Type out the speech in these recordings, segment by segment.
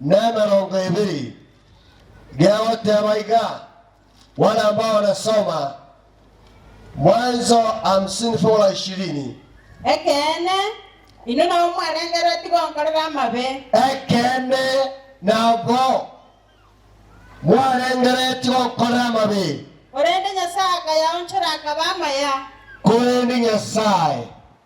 n'emerongo ebere, gegoteeba iga, Wale ambao nasoma, Mwanzo hamsini fungu la ishirini. Ekeene, inwe nabwo mwarengereretie gonkorera amabe. Ekeene, nabwo mwarengereretie gonkorera amabe. Korende Nyasae akayaonchora, akaba amaya. Korende Nyasae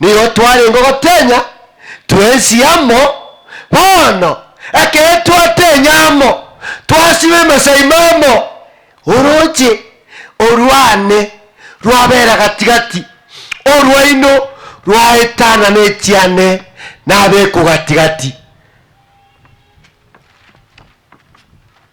Nigo twarenge gotenya twensi amo, bono ekero twatenya amo, twasiba emesaima amo, orooche orwane rwabera gati-gati, orwaino rwaetana nechiane nabekwa gati-gati.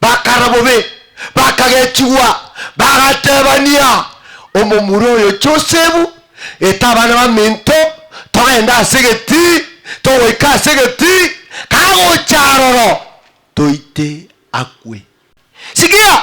Bakara bobe, bakagechigwa, bagatebania, Omomura oyo Josefu, eta abana baminto, togende ase egetii, togoika ase egetii, kagocha aroro, toite akwe. Sikia!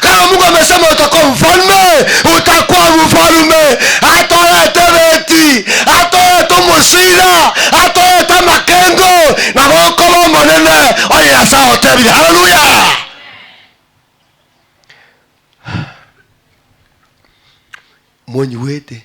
Kare omogw'amesa omotoka omofalme otakwa bofalume, atoete ebeti, atoete omochira, atoete amakengo, nabo okoba omonene, onye Nyasae agotebire. Haleluya! Monyigwete?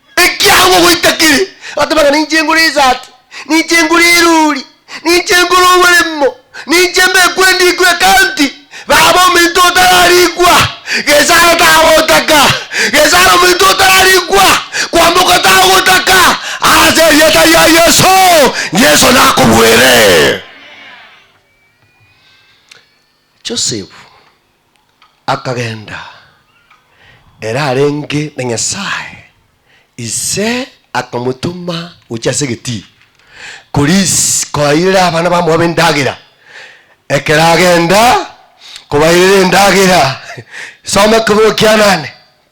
Ekiagera ogoita kere agateba ng'a ninche ngore esaati, ninche ngore eroori, ninche ngore oboremo, ninche mbekwe ndikwe ecounty, baba ominto otararikwa, gesaro tagotaka, gesaro ominto otararikwa, kwamboka tagotaka, ase erieta ria Yeso, Yeso nakobwere. Joseph. Akagenda, ere arenge na Nyasae, Ise akamotoma gochia ase egetii, koris, koairera abana ba Moabu endagera, ekero agenda kobairera endagera. Soma ekeborero kianane.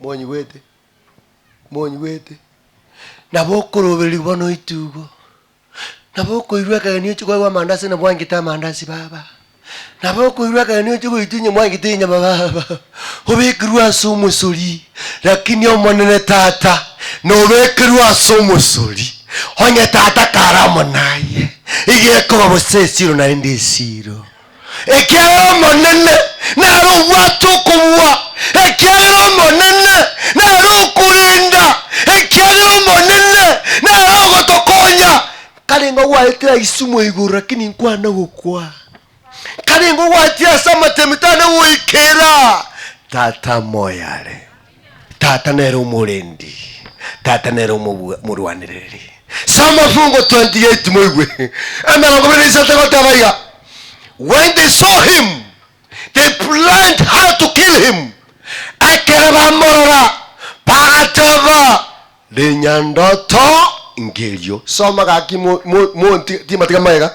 Monyigwete? Monyigwete? Nabo okorobereria bono oite igo. Nabo okoirwa akageni oche kwaigwa amandasi na mwangete amandasi baba. Nabo okoirwa akageni oche goitwa inye mwangete inyama baba. Obekerwe ase omosori, lakini Omonene Tata nobekerwe ase omosori, onye Tata kare amo naye, iga ekoba bosa esiro naende esiro. Ekiagera Omonene nare obwate okobua, ekiagera Omonene nare okorenda, ekiagera Omonene nare ogotokonya. Nkarenge ogwaetera isumo igoro, lakini nkwana gokwa. Karenge ogwachia ase amatemi tana goikera Tata moyare. Tata nere omorendi. Tata nere omobua- omorwanereri. Soma Fungo 28 moigwe emerongo ebere na isato egoteba iga, When they saw him, they planned how to kill him. Ekero bamorora bagateba, Rinyandoto ngerio. Soma gaki mo- mo- monti- timatiga magega.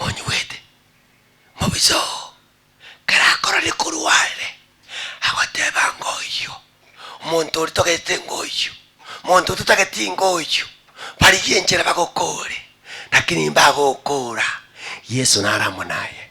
monyuete, mobisa oo kera akorore korwa are agoteba ng'a oyio omonto oria togete ng'a oyio, omonto oria totageti ng'a oyio, barigie enchera bagokoore, lakini mbagokoora Yeso nare amo naye.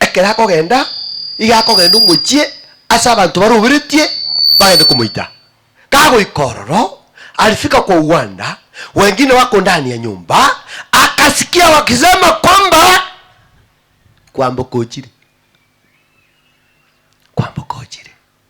Ekero akogenda, iga akogenda omochie ase abanto baroberetie bagende komoita. Kagoika ororo, alifika kwa Uwanda, wengine wako ndani ya nyumba akasikia wakisema kwamba, Kwamboka ochire, kwamboka ochire.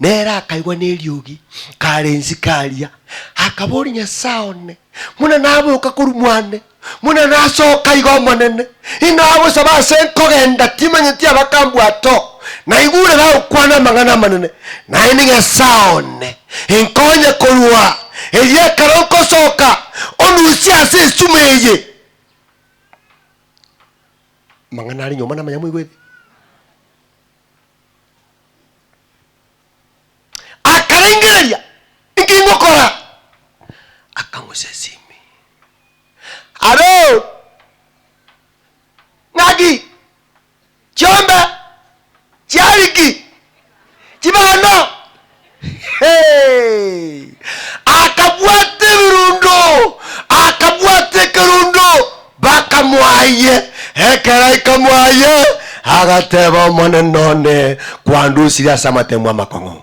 Nere akaigwa neriogi, kare ensike aria, akaboria, Nyasae one, buna naboka korwa mwane, buna nasoka iga Omonene, inagosaba ase nkogenda timanyeti abakambwata oo, naigure bagokwana amang'ana amanene, naende Nyasae one, inkonye korwa erio ekero nkosoka, onusie ase esuma eye. Amang'ana aria nyomba namanya moigwete. Akarengereria, Inki ingokora? Akamosesimi. Aroo ng'aki chiombe chiariki chibana? Akabwata ebirundo, akabwata ekerundo, bakamoayia. Ekero aikamoayia, agateba, Omonene one, kwandusirie ase amatemo amakong'u.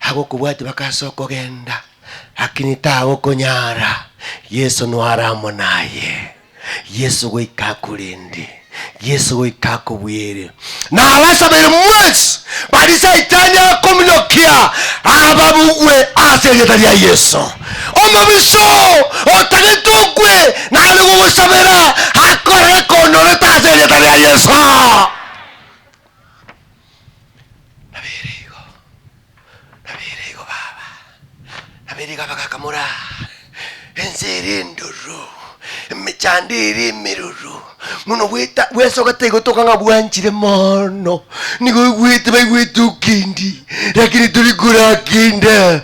agokobwatia bakaasa okogenda, lakini tagokonyara, Yeso noare amo naye. Yeso goika akorende, Yeso goika akobweere. Nabasabere mwensi bari saitani akominyokia, ababugwe ase erieta ria Yeso. Omobiso otagete okwe nare gogosabera akore ekonyorete ase erieta ria Yeso. Nabeire igo, nabeire igo baba, nabeire igo abagaka more aa, ense ere endururu, emechando ere emeruru, buna obweta bwesogete igo toka ng'a bwanchire moono, nigo oigwete baigwete okendi, rakini tori koraka enda.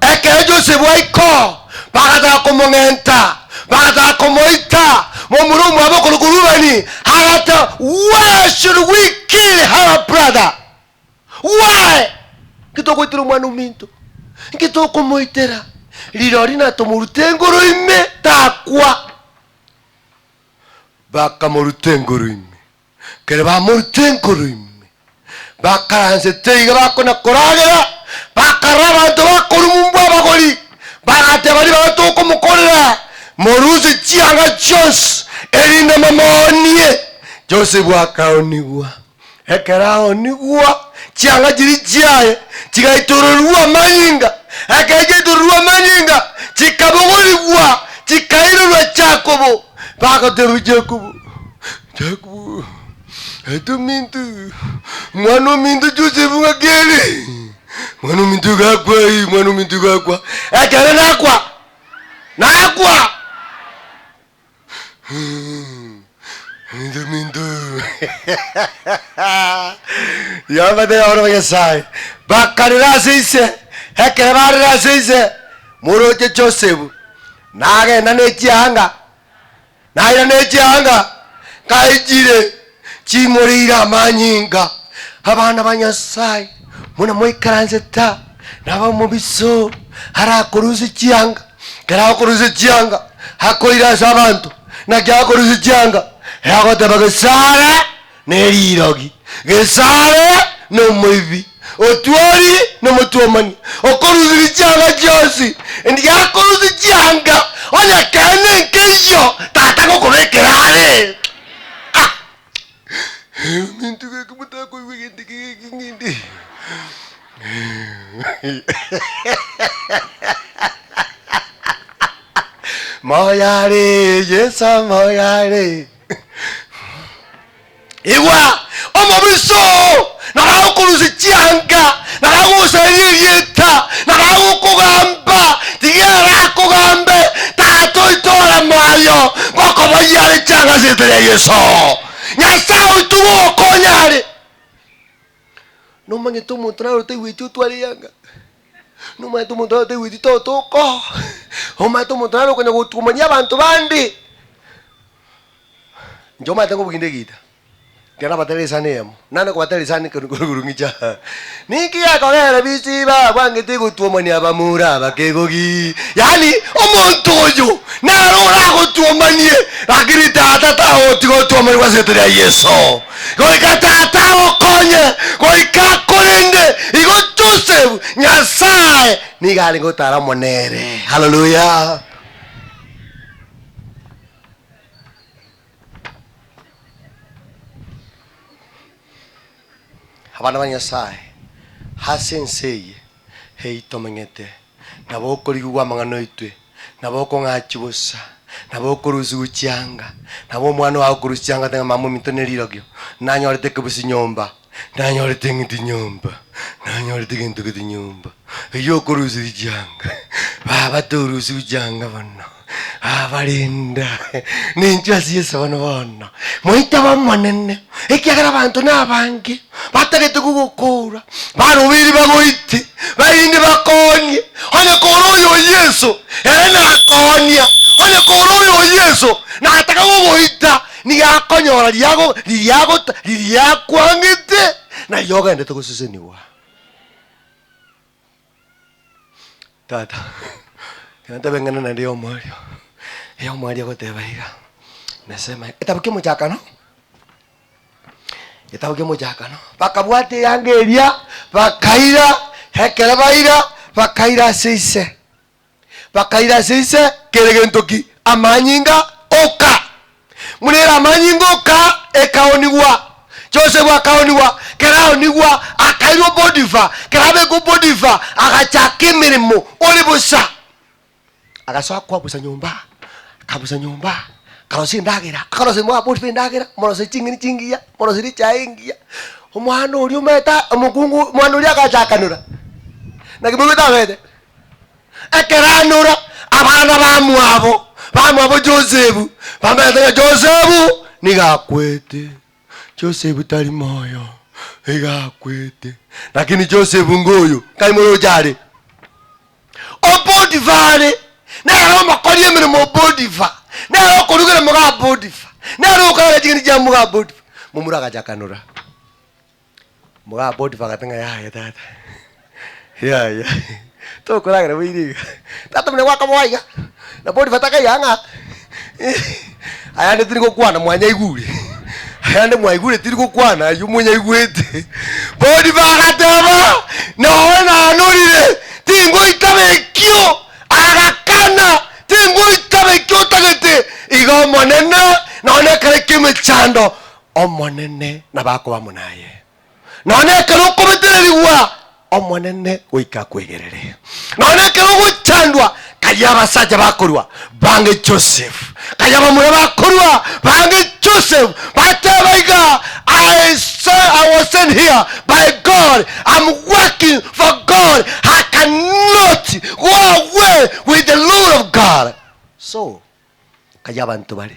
Ekero Josefu aiko bagataka komong'enta, bagataka komoita, momura omwabo okorokwa Rubeni agata, Why should we kill our brother? Why? Nki tokoitera omwana ominto? Nki tokomoitera? Rirori natomorute engoro ime, takwa. Bakamoruta engoro ime. Kere bamorutire enkoro ime, bakaransete iga bakona koragera, bakarora abanto bakorubumbwa abagori, bagateba ribaga tokomokorera, morusie chianga chionsi, erinde momoonie. Josefu akaonigwa. Ekero aonigwa, chianga chiria chiaye chigaitororigwa amanyinga, ekero chiaitororigwa amanyinga, chikabogorigwa, chikairorwa Jakobo. Bagateebia Jakobo, Jakobo, aite ominto, omwana ominto o Josefu ng'ake ere? Omwana ominto igo akwa, ee, omwana ominto igo akwa, ekero nakwa, nakwa. Aite ominto. Yehova tari abarabwo Nyasae. Bakarera ase ise, ekero barire ase ise, moroche Josefu, Nagenda ne chianga, naira ne chianga, nkaechire ching'ori ire amanyinga. Abana ba Nyasae, buna mwaikaransete aa, nabo omobiso arakorusia chianga, ekero akorusia chianga, akoira ase abanto, naki akorusia chianga, eragoteba, Gesare! ne rirogi, gesaare, na omoibi, otuori, na omotwomani, okorusiria chianga chionsi, endi gakorusia chianga onye kere nenkeyio Tata gokobekera are. Ah! Egeminto geke motakoigwa egento eke geke ng'ende. Moyare, Yeso moyare. Igwa, omobisa oo naragokorusia chianga, naragosaria erieta, naragokogamba, tiga ere akogambe, Tata oito ore moyo, ngokoboyia are chianga ase erieta ria Yeso. Nyasae oito gogokonya are. Nomanyete omonto naro taigweti otware eanga. Nomanyete omonto naro taigweti totoko, omanyete omonto naro okonya gotuomania abanto bande. Inche omanyete nkobuginde egita, ekero nabatera esani eyemo, nane kobatera esani ekero nkore korung'icha. Ninki gekogera bisi babwangete gotuomania abamura abakegogi? Yaani, omonto oyo naro oragotuomanie, lakini tata tagotiga otuomanigwa ase erita ria Yeso. Goika Tata agokonye goika korende igo Joseph Nyasae nigo arenge gotara amo nere. Hallelujah. Abana ba Nyasae, ase ense eye eyi tomeng'ete, nabo okorigigwa amang'ana oitwe, nabo okong'achi bosa, nabo okorusigwa chianga, nabo omwana oye agokorusia chianga ate ng'a mama ominto ne rirorio, nanyorete ekebusi nyomba, nanyorete eng'iti nyomba, nanyorete egento gete nyomba, eyio okorusiria chianga, baba torusigwe chianga bono. Abarenda, ninche ase Yeso bono bono, moite b'Omonene, ekiagera abanto nabange batagete kogokoora, barobeire bagoite, barinde bakoonie, onye kore oyo Yeso ere nakoonia, onye kore oyo Yeso nataka kogoita, nigo akonyora riago riria agota riria akwangete na riria ogendete gosesenigwa. Tata, ekero tabeng'ana naende ya omwario, eya omwario agoteba iga, Nasema, egetabu kia omochakano, egetabu kia omochakano, bakabwata eyanga eria, bakaira, ekero baira, bakaira ase ise. bakaira ase ise kere gento ki? Amanyinga, Oka! Buna ere amanyinga oka, ekaonigwa. Josefu akaonigwa, keraonigwa akairwa Potifa, kerabekwa Potifa, agachaka emeremo ore bosa. Agasoa koabusa nyomba, akabusa nyomba, akarosia endagera, akarosia omwa Potifa endagera, omorosia ching'eni chingiya, omorosia echae engiya. Omwana oria ometa omokungu, omwana oria agachakanora, naki moigwete abete. Ekero anora abana bamwabo bamwabo Josefu, bamanyete ng'a Josefu nigo akwete. Josefu tari moyo, iga akwete. Lakini Josefu ngoyo, nkaimora ocha are. O Potifa are, nere omokori emeremo o Potifa, nere okorugera moga Potifa, nere okorara ching'iti chia moga Potifa. Momura agacha akanora. Mogaa Potifa agate ng'a, Yaya tata, yaya, tokoragera boigo iga. Tata muna gwakabogwa iga. Na Potifa takaiya ng'a, ayande tiri gokwana mwanyaigure, ayande mwaigure tiri gokwana aywo monyaigwete. Potifa agateba, Noe nanorire, tingoitaba ekio. Agakana, tingoitaba ekio otagete. Iga Omonene, nonya ekero ki'emechando, Omonene nabakobamo naye, nonya ekero okobetererigwa Omonene goika akwegerere, nonya ekero ogochandwa, karia abasacha bakorua bange Joseph, karia abamura bakorua bange Joseph, bateba iga, I saw, I was sent here by God, I'm working for God, I cannot go away with the Lord of God. So, karia abanto bare.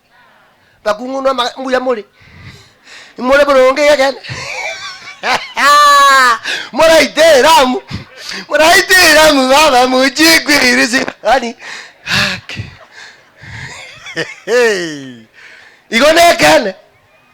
bakung'unwa amaga- mbuya more, more boronge egekene moraite eramu, moraite eramu baba mochie kweirisia yaani haki igo nekende.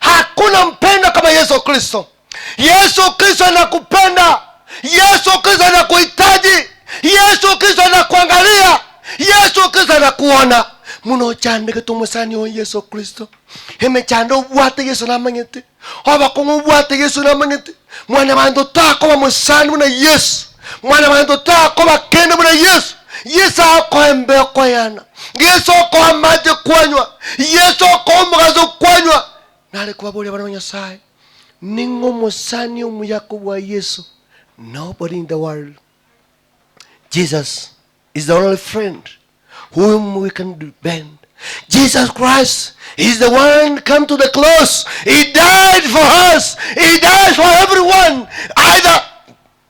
Hakuna mpendwa kama Yesu Kristo. Yesu Kristo anakupenda. Yesu Kristo anakuhitaji. Yesu Kristo anakuangalia. Yesu Kristo anakuona. Muno ochandegete omosani oyo Yesu Kristo. Emechando obwate Yesu namanyete. Obokong'u obwate Yesu namanyete. Mwana banto takoba mosani buna Yesu. Mwana banto takoba kende buna Yesu. Yesu akoembe okoyana. Yeso okoa amache kwanywa, Yeso okoa omogaso kwanywa, nare kobaboria abana ba Nyasae, Ning'o omosani omuya kobua Yeso? Nobody in the world. Jesus is the only friend whom we can depend. Jesus Christ is the one come to the cross. He died for us. He died for everyone. Either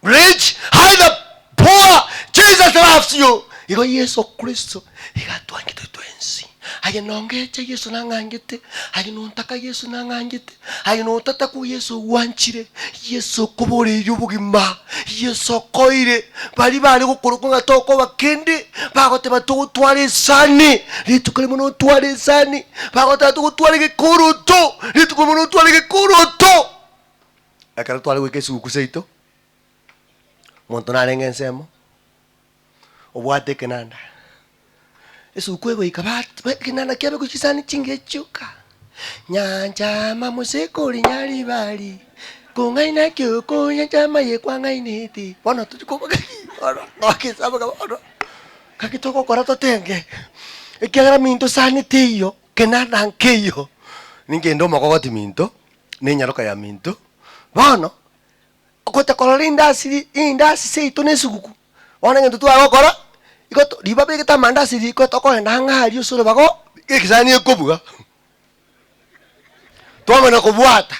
Rich, either poor, Jesus loves you. Igo Yeso Kristo iga atwangete twensi. Aye nongecha Yeso nang'angete, aye nontaka Yeso nang'angete, aye notatakwa Yeso ogwanchire, Yeso okoboreirie obogima, Yeso okoire. Baria bare gokorokwa ng'a tokoba kende, bagoteba togotwara esani, rituko rimo notware esani, bagoteba togotwara egekoroto, rituko rimo notware egekoroto. ekero tware goika esiguku seito, monto narenge ensemo, obwate ekenanda, esuguku egoika bat ba ekenanda kiabe gochia chisani chingiya chioka, nyanchama mosekore nyaribari, kong'aina ki okonyanchama ye kwang'ainete, bono tochi koba gaki bono nogesaba kaba bono gaki togokora totenge, ekiagera minto sani teiyo, kenanda nkeiyo, ningende omogogoti minto. nenyaroka ya minto. Bono gotakorora indasi indasi seito nesuguku bono egento tware gokora igo to riba begete amandasi riko tokorenda ang'e aria ase orobaga oo ekesani ekobua twamana kobwata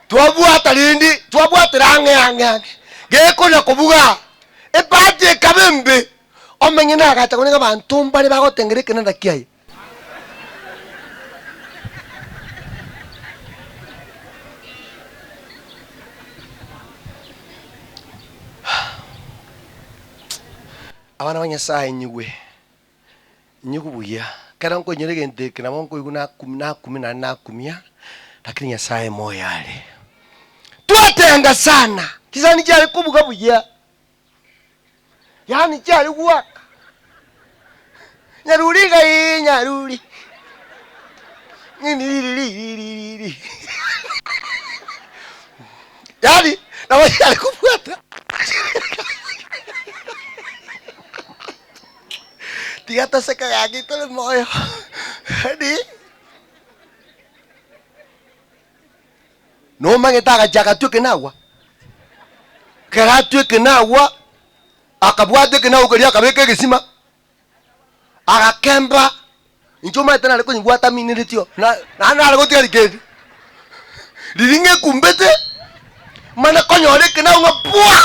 twabwata rende twabwatera ang'e ang'e ang'e gekona kobuga ebati ekaba embe omenye nagacha konye abanto mbare bagotengera ekenanda kiaye. Abana ba Nyasaye inyigwe, inyigwe buya. Ekero nkoinyora egento eke nabo nkoigwa naku- nakumia naende nakumia, lakini Nyasaye moyo are. Twatenga sana, chisani chiare kobuga buya. Yaani chiari gwaka. Nyaruri iga ii nyaruri. Nini riri riri riri riri. Yaani nabo chiari kobwata. Tiga toseke gaki tore moyo. Yaani Nomanyete agachia agatwa ekenagwa. Ekero atwa ekenagwa, akabwata ekenagwa keria akabeka egesima, agakemba. Inche omanyete nare konyebwata amineretio, na- naende nare gotiga rikendi riria ng'ekumbete, mane konyora ekenagwa ng'a bwa!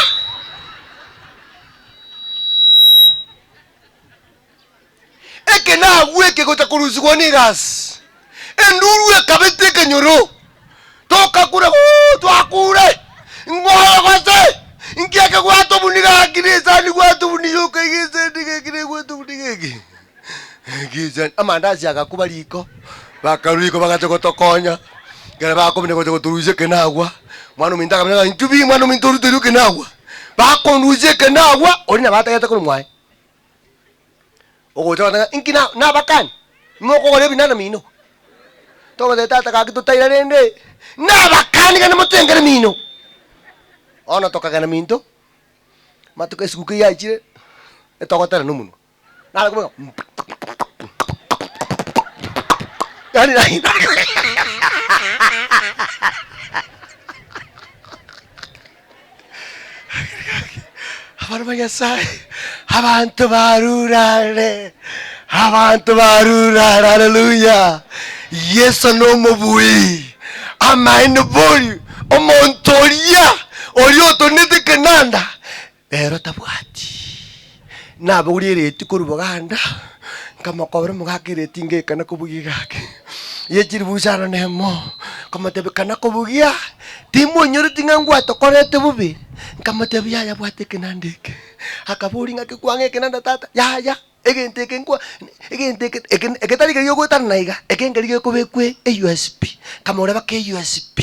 Ekenagu eke gocha korusigwa n'erasi, enduru ekabeta ekenyoro, tokakura Ooh, twakure! Ngoye gose! Nki eke gwatobunire gaki na esani gwatobunire yoka iga esani gaki na gwatobunire gaki gaki esani amandasi agakuba riko bakarwa riko bagacha gotokonya ekero bakomenya gocha gotorusia ekenagwa mwana ominto akamenya ng'a nchubi mwana ominto oruterwe ekenagwa bakondusia ekenagwa oria nabo atagete korwa mwaye Ogocha ogoteba ng'a inki na- nabakane, nimokogora ebinana mino. Togoteba tata gaki totaira rende nabakani gane motengere mino. Bono tokagenda minto, amatuko esiguka eyio yachire, etogotera nomonwe, nare kobeka yaani yaani Abana ba Nyasaye, abanto barurare, abanto barurare, haleluya! Yeso nomobui, amaene bori omonto oria oria otonetie ekenanda, rero tabwati. Nabogorie ereti korwa boganda, nkamokobera omogaka ereti inga eke na kobugia iga ake, ye chiribusi aro nemo, nkamotebia kana kobugia, timonyoreti ng'a ngwatokorete bobe? Nkamotebia yaya bwata ekenanda eke. Akaboria ng'aki kwang'a ekenanda tata? Yaya egento eke nkwa egento eke eke egetari keri giogwetanana iga, eke nkeri gekobekwa eUSB. Nkamoreba ke USB,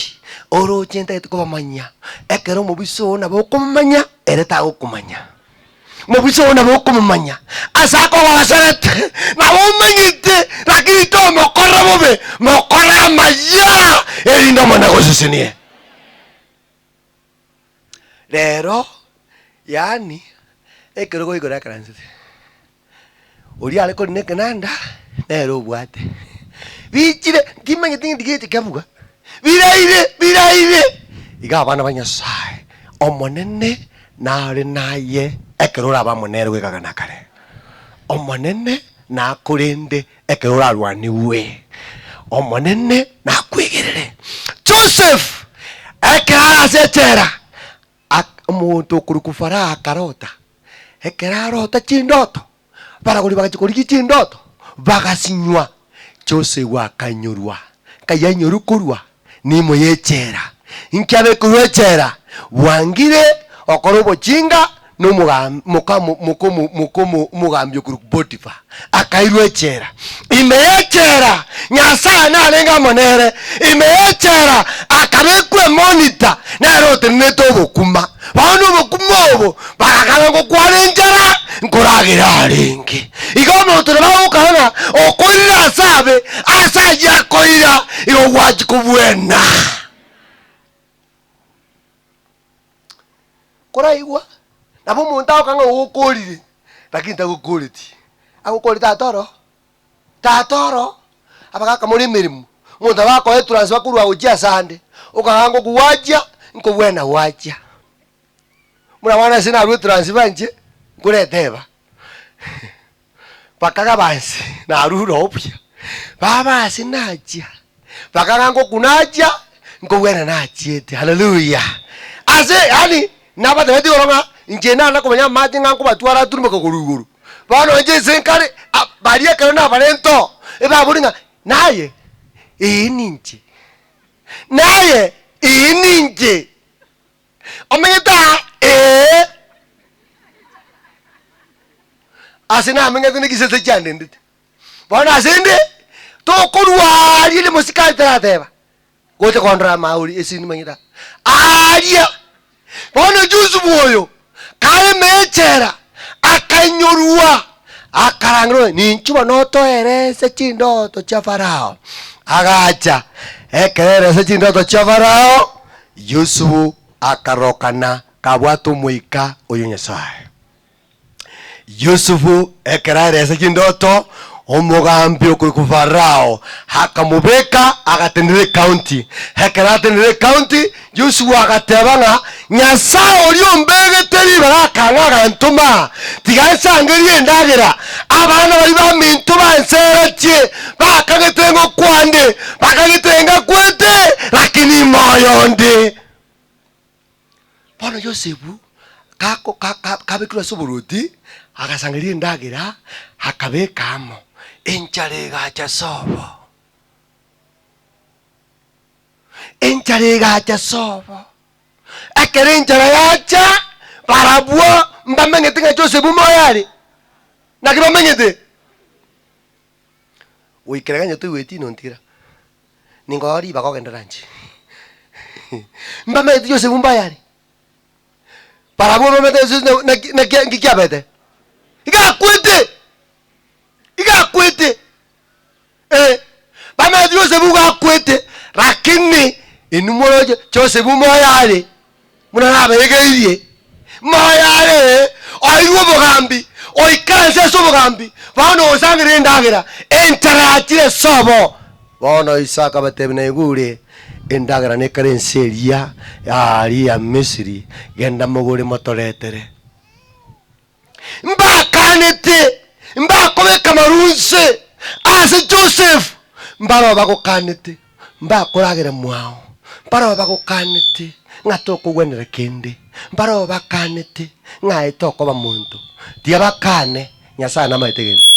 oroche ntagete kobamanyia, ekero omobisa oo nabo okomomanya, ere tagokomanya. Mobusa oo nabo okomomanya, ase akogoserete, nabo omanyete, lakini tomokorera bobe, mokore amayia, erinde Omonene agosesenie. Rero, yaani, ekerogo igoro ekeransete, Oria are kori nekenanda, nere obwate. Bichire, ntimanyeti ng'enti geche kebuga. Biraire, biraire! Iga abana ba Nyasaye, Omonene nare naye ekero oraba amo nere goikaga na kare. Omonene nakorende ekero orarwanigwe. Omonene nakwegerere. Joseph, ekero are ase echela, Ak, omonto okorokwa Faraha akarota. Ekero arota chindoto, abaragori bagachia korigia chindoto, bagasinywa. Josefu akainyorwa. Nkai ainyorwe korwa neimo y'echela. Inki abekerwe echela? Bwangire okora obochinga na omoga, moka, mo, moka, mo, moka, mo, omogambi okorokwa Potifa. akairwa echela. Ime y'echela Nyasae narenge amo nere, ime y'echela akabekwa emonita nere otenenete obokima. Bono obokima obo barakana ngokwana enchara nkoragera arenge. Igo omonto nabo agokana okoirira ase abe, ase ayio akoira igo gwachi kobwena. Koraigwa, nabo omonto agoka ng'a ogokoorire, lakini tagokooreti. Agokoorete ata oro? Tata oro abagakamore emeremo. Omonto nabo akoa etransfer korwa gochia ase ande, okagaa ng'oku gwachia, nkobwena gwachia. Buna bono ase narue etransfer inche, nkoreta eba. Bakagaba inse, narure obuya, baba ase nachia, bakagamba ngoku nachia, nkogwena nachiete. Haleluya! Ase, yaani, nabatebetie igoro ng'a inche naenda komenya amache ng'a nkobatwara ature mpaka korwa igoro. Bono inche inse nkare, a- baria ekero nabarente oo, ebabori ng'a naye, ee ninche, naye, ee ninche. Omeng'ete aa? Ee. Ase nameng'ete negisese chiandendete. Bono asende tokorua aria ria mosikari tarateba gocha kondora ama ori ase nimanyete aa. Aaria. Bono Yusufu oyo kareme echela akainyorua akarangerwa ng'a ninchi bono otoerese chindoto chia Farao. Agacha ekero erese chindoto chia Farao Yusufu akarokana kabwate omoika oyo Nyasae. Yusufu ekero arese chindoto, omogambi okorwa kwa Farao akamobeka agatenena ekaunti. Ekero atenena ekaunti, Yusufu agateba ng'a Nyasae oria ombegete ribaga akang'a agantoma tiga nsangerie endagera, abana baria baminto banseretie, bakagete ng'o kwande bakagete ngakwete lakini moyo onde bono yosefu kako- ka- ka- kabekirwe ase oborwoti agasangereria endagera akabeka amo enchara egacha sobo enchara egacha sobo ekero enchara yacha barabwo mbamenyete ng'a josefu moyo are naki bamenyete Goikera gento toigweti nontiira. Ninkoa ribaga ogende lunch. Mbameti yose bumba yare. Barabwo mbameti yose na- na- na- na- nki kiabete. Igakwete. Igakwete. Eh. Bameti yose bugakwete, lakini inwe moroche Joseph moyare. Buna nabaegeirie, moyo are oirwe obogambi, oikaranse ase obogambi, bono nogosangerera endagera, enchara yachire sobo. Bono Isaka akabatebia, Naigwe ore endagera nekare ense eria ya aaria Misiri, genda mogore motoretere. Mbaakanete, mbakobeka amaru onse ase Joseph, mbarabwo bagokanete, mbakoragera mwao, mbarabwo bagokanete ng'a tokogwenera kende, mbarabwo bakanete ng'a aye tokoba monto, tiga bakane, Nyasae namaete gento.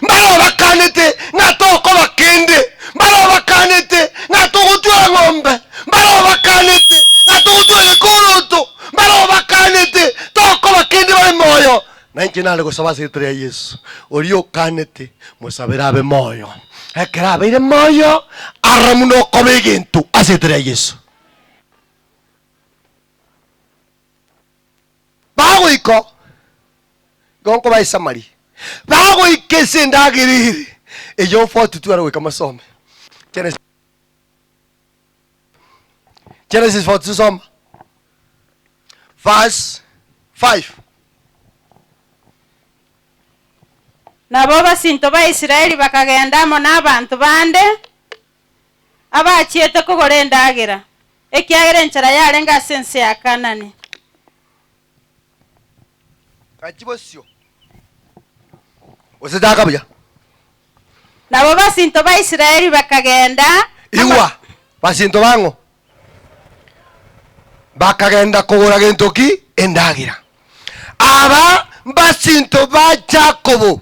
Mbarobakanete ng'a tokoba kende, mbarobakanete ng'a togotwera ng'ombe, mbarobakanete ng'a togotwera gekoroto, mbarobakanete tokoba kende babe moyo. Nainche nare gosaba ase erieta ria Yesu, oria okanete, mosabere abe moyo. Ekero abeire moyo, aroro buna okoba egento ase erieta ria Yesu. Bagoika, igo nkobae Samaria, bagoika ense endagera ere eyio obotutu are goika mosome Genesis Genesis 42 soma verse 5. Nabo abasinto ba Israeli bakagenda amo nabanto bande, abachiete kogora endagera, ekiagera enchera yarenge ase ense ya Kaanani. Gaki bosio, gose chaka buya. Nabo basinto ba Israeli bakagenda ama- Igwa, basinto bang'o bakagenda kogora gento ki? Endagera. Aba mbasinto ba Yakobo.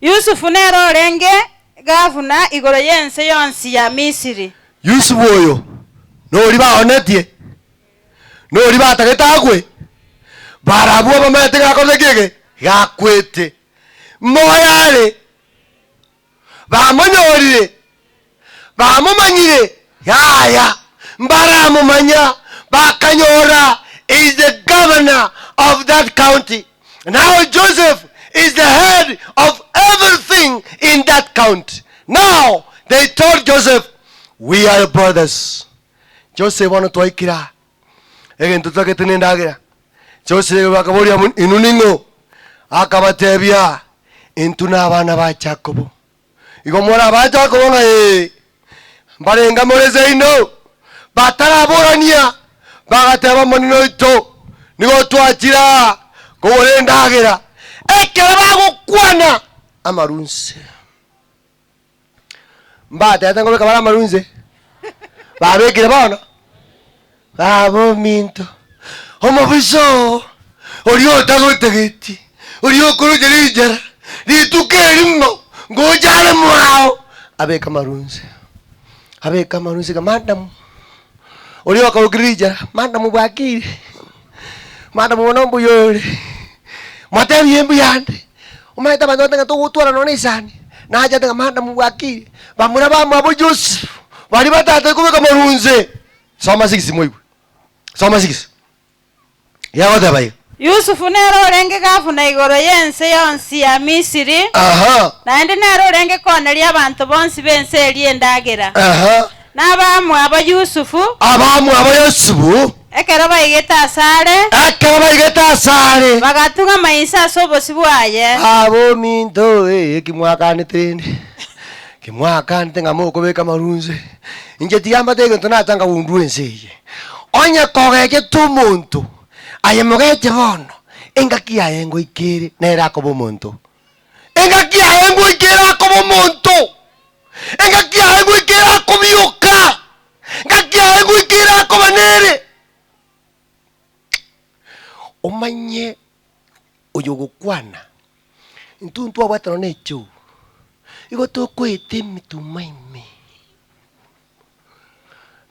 Yusufu nere orenge gavuna igoro y'ense yonsi ya Misiri. Yusufu oyo noria baoonetie, noria batagete agwe, baare abwo bamanyete ng'a akorete ekibe eke, gakwete. Moyo are, bamonyorire, bamomanyire, yaya mbaramomanya, bakanyora he is the governor of that county, now Joseph is the head of everything in that county, now they told Joseph, we are brothers, Joseph bono twaikire aa, egento totagete nendagera, Joseph akaboria, inwe ning'o? Akabatebia, intwe nabana ba Jakobo. Igo more abanto akoba ng'a ee, mbarenge amo neseino, bataraborania, bagateba, Omonene oito, nigo otwachire aa kogora endagera, ekero bagokwana amarunse. Mbatete ngobeka bare amarunse, babekire bono. Baba ominto, omobisa oo, oria otagotegeti, oria okoroche rinchera rituko eri ng'o ngocha are mwao, abeke amarunse, abeke amarunse iga, madam, oria okagoki rinchera, madam bwakire, madam bono mbuya ore, motebie mbuya ande, omanyete abanto bagotebi ng'a togotwara nonya na esani, nachete ng'a madam bwakire, bamura bamwabo Joseph, baria batatari kobeka amarunse. Soma 6 moigwe. Soma 6. Yagoteba iga. Yusufu nere orenge gavuna igoro y'ense yonsi ya Misiri, Aha, naende nere orenge kooneria abanto bonsi b'ense eria endagera. aha. Na abamwabo Yusufu, Abamwabo Yusufu, ekero baigete asare, ekero baigete asare, bagatung'ama inse ase obosio bwaye. Abominto, eh, eki mwakanete rende. Timwakante ng'a mokobeka amarunse, inche tigambate egento natanga goundwa ense eye. Onye kogechete omonto aye mogeche bono, engaki yaye ngoika ere nere akoba omonto. Engaki yaye ngoika ere akoba omonto. Engaki yaye ngoika ere akobioka. Engaki yaye ngoika ere akoba nere. Omanye oyo ogokwana Intwe ntwabwate nonya echoo, igo tokoeta emetuma ime.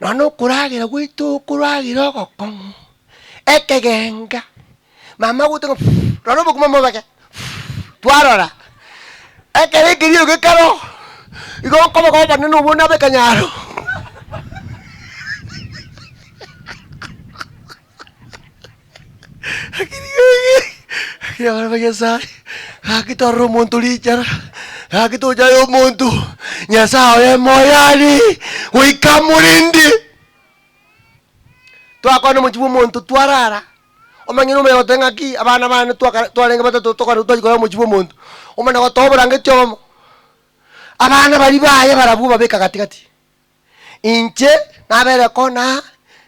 Nonya okoragera gwaito okoragera ogokong'u, ekegenga, mama agote ng'a fuuuu, nonya obokima mobege fuuuu, twarora, ekero ekerio gekare oo, igo okobega obonene obwo buna ab'ekanyaro Ekiagera Nyasae gaki torora omonto richara, gaki tochaye omonto, Nyasae oye moyani goika morindi. Twakwana omochie bwa omonto twarara, omanyene omuya goteba ng'aki abana bane twakare- twarenge batato tokarwa twachia koya omochie bwa omonto, omana gotoa oborangeti obomo, abana baria baye barabwo obabeka gati gati. Inche nabeire kona,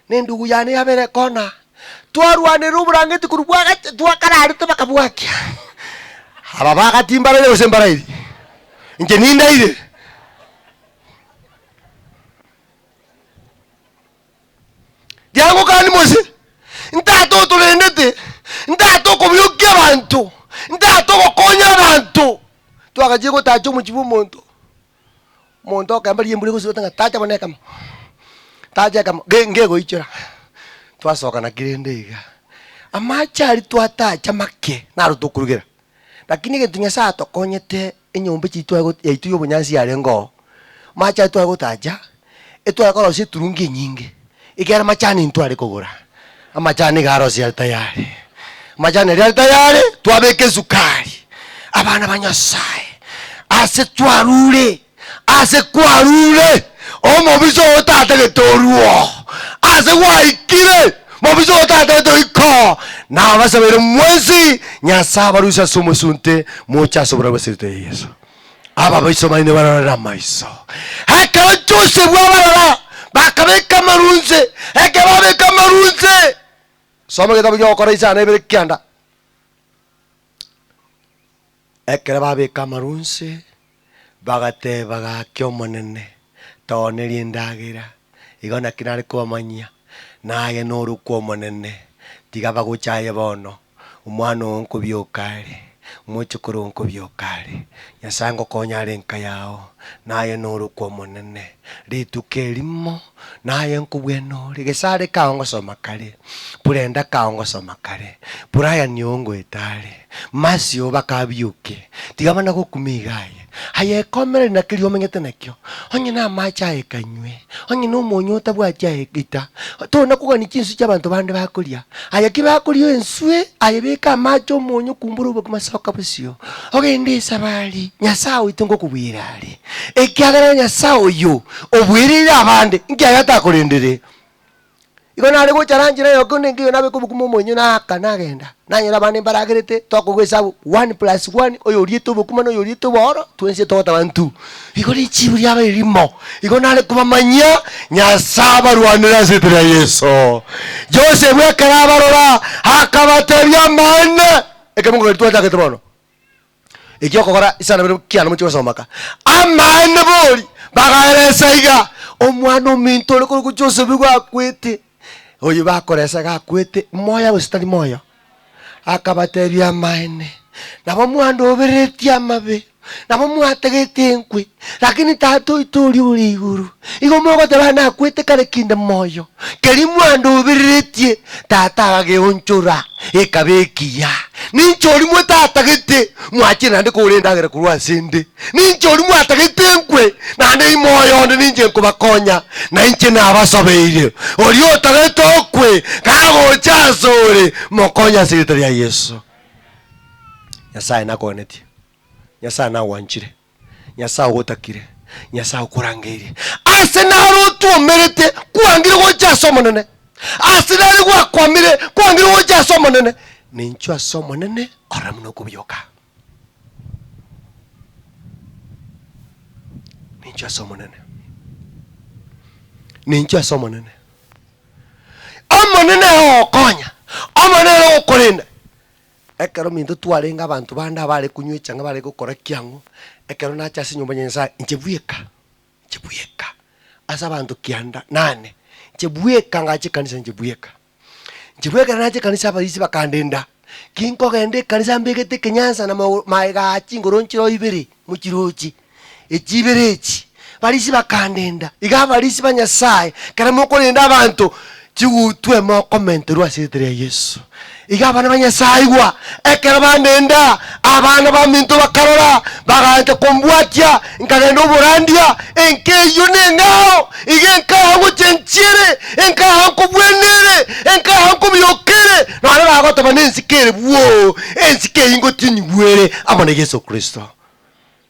na endugu yane yabeire kona, twarwanire oborangeti korwa bwagacha, twakararete bakabwakia. Aba bagati mbaraire gose mbarairi? Inche nindaire. Riangokani Mose, ntata otorendete, ntata okobiokia abanto, ntata ogokonya abanto. Twagachire gotacha omochie bw'omonto. Omonto okemba rimbura egosirota ng'a tacha buna ekemo, tacha ekemo, ge- ngegoichora. Twasoka naki rende iga. Amache aria twatacha make, naro tokorugera. Lakini egento Nyasaye atokonyete, enyomba echiaito twaye got- yaito ya obonyansi yarenge oo, amache aria twaye gotacha, Etware korosia eturungi enyinge, ekiagera amachani intware kogora. Amachani iga arosia are tayari. Amachani aria are tayari, twabeka esukari. Abana ba Nyasaye, ase twarure, ase kwarure, omobisa ogo tatagete orue oo. Ase gwaikire, mobisa ogo tatagete oike oo. Nabasabeire mwensi, Nyasae abarusie ase omosunte, moche ase oborabu ase erita ria Yeso. Ababaiso baino barorere amaiso. Ekero Josefu abarora, bakabeka amarunse. Ekero babeka amarunse, soma egetabu kia Ogokora isano ebere kianda. Ekero babeka amarunse, bagateba gaki Omonene, tooneri endagera, igo naki nare kobamanyia, naye norokwe Omonene, tiga bagocha aye bono. Omwana oo nkobioka are, omochokoro oo nkobioka are, Nyasae ngokonya are enka yao, naye norokwe Omonene. Rituko erimo naye nkobwena ore, gesare kao ngosoma kare, Purenda kao ngosoma kare, Brian oo ngoeta are, Mercy oo bakabioke, tiga mana gokuma iga aye, Aye ekomereri na keria omenyete nakio, onye namache aye kanywe, onye nomonyo otabwati aye ita. Tore nakogania chinswe chi'abanto bande bakoria, aye ki bakoria enswe, aye beka amache omonyo kumbora oboke masoka bosio, ogende esabari, Nyasae oito ngokobwera are. Ekiagera Nyasae oyo oboereire abande, inki aye atakorendere? Igo nare gocha ara nchera yoka onde nkeyo nabe kobokuma omoenywa na aka nagenda, nanyore abande mbaragerete tokogwa esabu one plus one oyo oriete obokuma na oyo oriete obooro twensie togotaba ntu. Igo richiibu riaba erimo. Igo nare kobamanyia Nyasae abarwanere ase eritwa ria Yeso. Josefu ekero abarora akabatebia, Amaene, ekemogo gari twachakete bono. Eki okogora isano bire kiana mochie gosoma ka. Amaene bori bagaeresa iga, omwana ominto ore korokwo Josefu igo akwete, oyo bakoresa iga akwete, moyo gose tari moyo? Akabatebia, Amaene. Nabo mwandoobereretie amabe, nabo mwatagete enkwe. Lakini Tata oito oria ore igoro, igo mogoteba nakwete kare kinde moyo, keria mwandobereretie Tata agageonchora, ekaba ekiya. Ninche oria mwetagete, mwachire naende kogora endagera korwa ase 'nde. Ninche oria mwatagete enkwe, naende ime oyo onde ninche nkobakonya, na inche nabasobeire. Oria otagete okwe, kagocha asore, mokonye ase erieta ria Yeso. Nyasae nakoganetie. Nyasae nagwanchire. Nyasae ogotakire, Nyasae okorangeirie, aase naro otwomerete kwangire gocha ase Omonene, aase nare gwakwamire kwangire gocha ase Omonene, na inchuo ase Omonene orore buna okobioka. Na inchuo ase Omonene, na inchuo ase Omonene. Omonene nere ogokonya, Omonene nere ogokorenda, Ekero minto twarenge abanto bande abaare kunywa echang'e bare gokora kiang'u, ekero nache ase enyomba ya Nyasae, inche bweka, inche bweka, ase abanto kianda nane, inche bweka ngache ekanisa inche bweka. Inche bweka ekero nache ekanisa abarisi bakandenda, ki nkogenda ekanisa mbegete ekenyansa na mago maega aa chingoro nchire oo ibere mochirochi, echi ibere echi, Farisi bakandenda, Iga Afarisi ba Nyasae, ekero mokorenda abanto, chigutwe mokomenterwa ase erieta ria Yeso. Iga abana ba Nyasae igwa, ekero bandenda, abana baminto bakarora, bagancha kombwatia, nkagenda oborandia, enka eyio neng'ao, iga enka yao ngochia nchiere, enka yao nkobwena ere, enka yao nkobioka ere, nonye bagotoba nensike ere bwoo, ensike eyio ngotinyigwe ere amo na Yeso Kristo.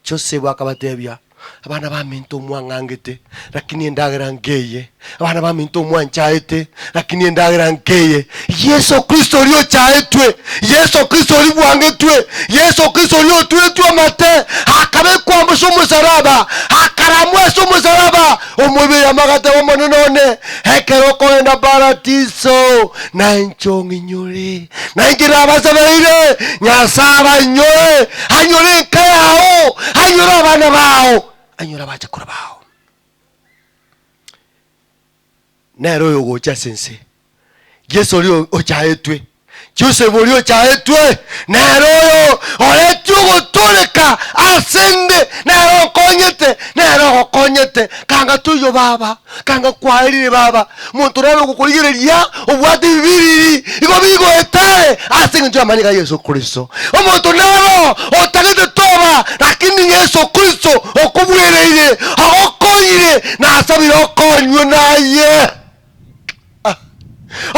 Josefu akabatebia, Abana baminto mwang'angete, lakini endagera nkeye, abana baminto mwanchaete, lakini endagera nkeye, Yeso Kristo oria ochaetwe, Yeso Kristo oria bwangetwe, Yeso Kristo oria oturetwe amate, akabekwa amo ase omosaraba, akaramwa ase omosaraba, omobere amagata b'Omonene one, ekero okogenda paradiso, na inche ong'inyore. Na inche nabasabeire, Nyasae abanyore, anyore enka yao, anyore abana bao, anyore abachakora bao. Nere oyo ogocha ase ense, Yesu oria ochaetwe, Josefu oria ochaetwe, nere oyo oreti ogotoreka ase nde, nere onkonyete, nere ogokonyete, kanga toiyo Baba. Kanga kwarire baba, monto nare ogokorigereria obwate bibiriri, igo bigoetare ase engencho y'amanyinga ya Yeso Kristo. Omonto naro otagete toba, rakini Yeso Kristo okobwereire, agokonyire, na asabire okonywe naye. Ah,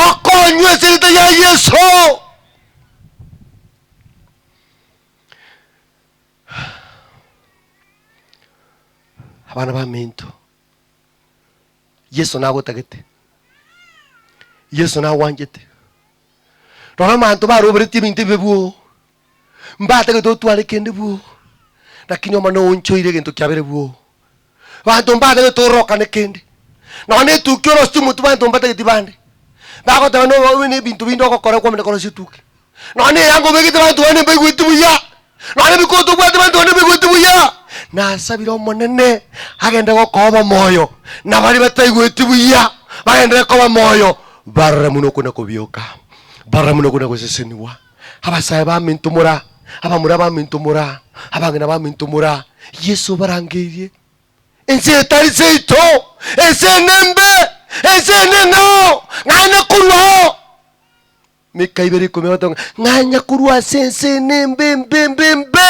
Okonywe ase erieta ya Yeso. Abana baminto, Yeso nagotagete. Yeso nagwanchete. Rora amanto baroberetie ebinto ebibe bwoo. Mbatagete otware kende bwoo. Lakini omane oonchoire egento kiabere bwoo. Banto mbatagete orokane kende. Nao netuki orosio omotu banto mbatageti bande. Bagoteba noba obe nebinto binde ogokora okwamenya korosia etuki. nonya neyango obegete abanto bane mbaigweti buya, nonya nebikoto obwate abanto bane mbaigweti buya, nasabire Omonene agende gokoa obomoyo, na baria bataigweti buya bagenderere koba moyo, barore muna okona kobioka, barore muna okona gosesenigwa. Abasae baminto mora, abamura baminto mora, abang'ina baminto mora, Yeso obarangeirie. Ense eye tari seito, ense eye nembe, ense eye neng'ao, naende korwa ao. Mekaibere ikomi na gatano, ng'anya korwa ase ense ene embe embe embe embe.